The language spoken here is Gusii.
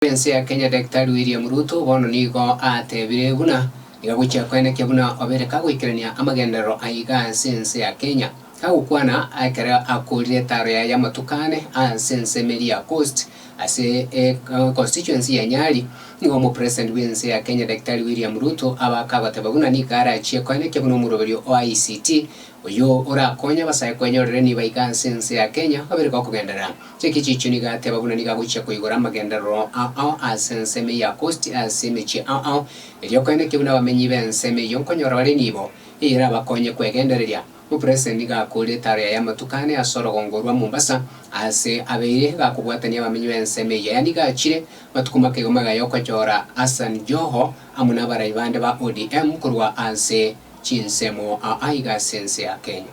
bw'ense ya Kenya Daktari William Ruto bono nigo ateebire buna niga gochia koenekia buna obeire kagoikerania amagenderero a iga ase ense ya Kenya, kagokwana ekero akoorire etaaro yaye y'amatuko ane ase ense Meria Coast ase constituency ya Nyali, nigo Omopresident bw'ense ya Kenya Daktari William Ruto abaaka agoteba buna nigo arachie koenekia buna omoroberio o ICT oyio orakonye abasae kwenyorera enibo iga ase ense ya Kenya obeire gokogenderera. Ekechicho nigo ateba buna nigo agochia koigora amagenderero ao ao ase ensemo eye ya Kosti ase emechie ao ao, erio koenekia buna abamenyi b'ensemo eyio nkonyora bare nibo, eye erabakonye kwegendereria. Omopresident nigo akoorire etaro yaye amatuko ane ase orogongo orwa Mombasa, aase abeire iga akobwatania abamenyi b'ensemo eyio. Aya nigo achire matuko make igamo agaya okochora Hassan Joho amo n'abarai bande ba ODM korwa ase chinsemo ao aiga ase ense ya Kenya.